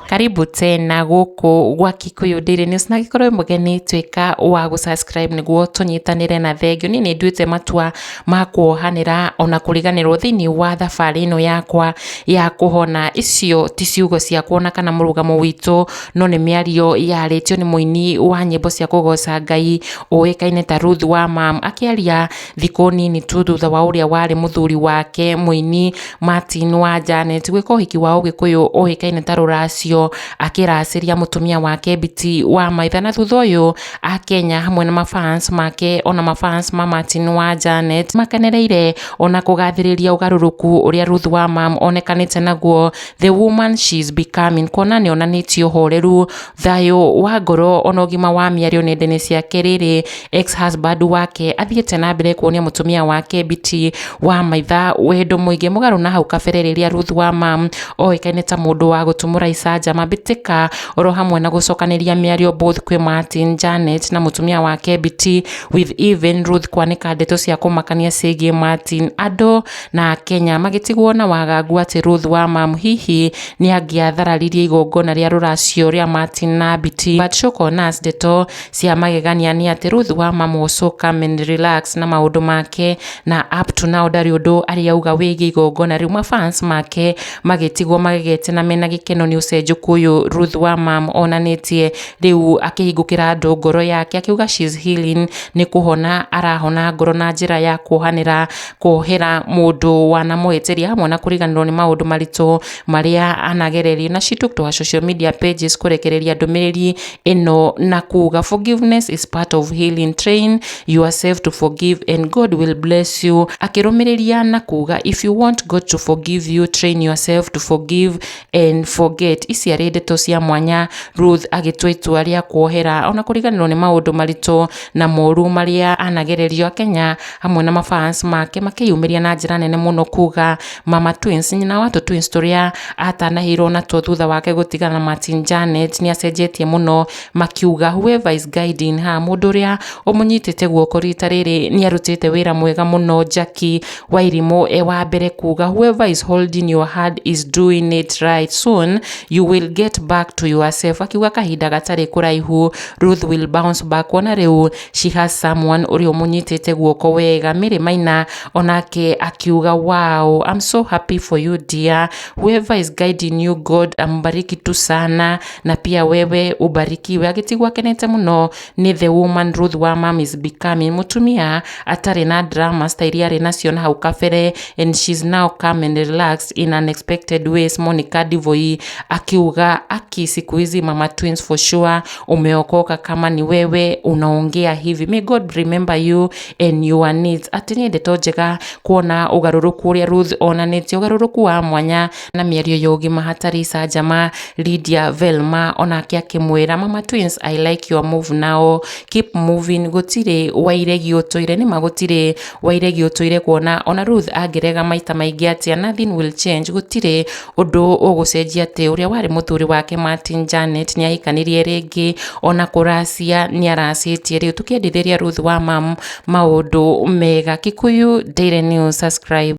karibu tena gũkũ gwa kikuyu daily news na gĩkorwo mũgeni tuĩka wa gũsubscribe nĩguo tũnyitanĩre na thengio niĩ nĩ nduĩte matua ma kuohanĩra ona kũriganĩrwo thĩinĩ wa thabarĩ ĩno yakwa ya kũhona icio ti ciugo ciakwa ona kana mũrũgamo witũ no nĩ mĩario yarĩtio nĩ mũini wa nyĩmbo cia kũgoca ngai ũĩkaine ta Ruth wa Mam akĩaria thikũ nini tu thutha wa ũrĩa warĩ mũthuri wake mũini Martin wa Janet gwĩka ũhiki wa ũgĩkũyũ ũĩkaine ta rũracio akĩracĩria mũtumia wake Biti wa Maitha na thutha ũyũ Akenya hamwe na mafans make ona mafans ma Martin wa Janet makenereire ona kũgathĩrĩria ũgarũrũku ũrĩa Ruth wa Mam onekanĩte naguo the woman she is becoming kuona nĩ onanĩtie ũhoreru Thayũ wa ngoro ona ũgima wa mĩario nenda-inĩ ciake rĩrĩ, ex husband wake athiĩte na mbere kuonia mũtumia wake Biti wa maitha wendo mũingĩ mũgarũ na hau kabere rĩrĩa Ruth wa ma oĩkaine ta mũndũ wa gũtumũra icanjama mbĩtĩka oro hamwe na gũcokanĩria mĩario both kwĩ Martin, Janet na mũtumia wake Biti with even Ruth kwanĩka ndeto cia kũmakania ciĩgiĩ Martin. Andũ na Akenya magĩtigwo na wagagu atĩ Ruth Wamam hihi nĩ angĩathararirie igongona rĩa rũracio rĩa Martin na Biti. But shock on us ndeto cia magegania nĩ atĩ Ruth Wamam was so calm and relaxed na maũndũ make na up to now ndarĩ ũndũ arĩ auga wĩgiĩ igongona rĩu. Mafans make magĩtigwo magegete na mena gĩkeno nĩ ũcenjũku ũyũ Ruth Wamam onanĩtie rĩu akĩhingũkĩra andũ ngoro yake akiuga she's healing nĩ kũhona arahona ngoro na njĩra ya kuohanĩra kũhera mũndũ wanamũhĩtĩria mwana kũriganĩrwo nĩ maũndũ maritũ marĩa anagererio na she took to her social media pages kũrekereria ndũmĩrĩri ĩno na kuga forgiveness is part of healing train yourself to forgive and God will bless you akĩrũmĩrĩria na kuga if you want God to forgive you train yourself to forgive and forget ici arĩ ndeto cia mwanya Ruth agĩtua itua rĩa kuohera ona kũriganĩrwo nĩ maũndũ maritũ na moru marĩa anagererio Kenya hamwe na mafans make makĩyumĩria na njĩra nene mũno kuga mama twins nyina wa twins tũrĩa atanahĩirwo natuo thutha wake gũtigana na Martin Janet nĩ acenjetie mũno makiuga whoever is guiding her mũndũ ũrĩa ũmũnyitĩte guoko rita rĩrĩ nĩ arutĩte wĩra mwega mũno Jackie Wairimũ e wa mbere kuuga whoever is holding your hand is doing it right soon you will get back to yourself akiuga kahinda gatarĩ kũraihu Ruth will bounce back kuona rĩu she has someone ũrĩa ũmũnyitĩte guoko wega Mary Maina onake akiuga wow I'm so happy for you dear whoever is guiding you God ambariki tu sana na pia wewe ubarikiwe agĩtigwo akenete mũno nĩ The Woman Ruth wa Mom is Becoming, mũtumia atarĩ na dramas ta iria arĩ nacio na hau kabere and she's now calm and relaxed in unexpected ways. Monica Ndivoi akiuga aki siku hizi mama twins for sure, umeokoka kama ni wewe unaongea hivi, may God remember you and your needs. Atĩ nĩ ndeto njega kuona ũgarũrũku ũrĩa Ruth onanĩtie, ũgarũrũku wa mwanya na mĩario ya ũgima hatarĩ icanjama Lydia Velma onake akĩmwĩra mama twins I like your move now keep moving gũtirĩ wairegi ũtũire nĩma gũtirĩ wairegi ũtũire kuona ona Ruth angĩrega maita maingĩ atĩa nothing will change gũtirĩ ũndũ ũgũcenjia atĩ ũrĩa warĩ mũthuri wake Martin Janet nĩ ahikanirie rĩngĩ ona kũracia nĩ aracĩtie rĩu tũkĩendithĩria Ruth wa mam maũndũ mega Kikuyu Daily News subscribe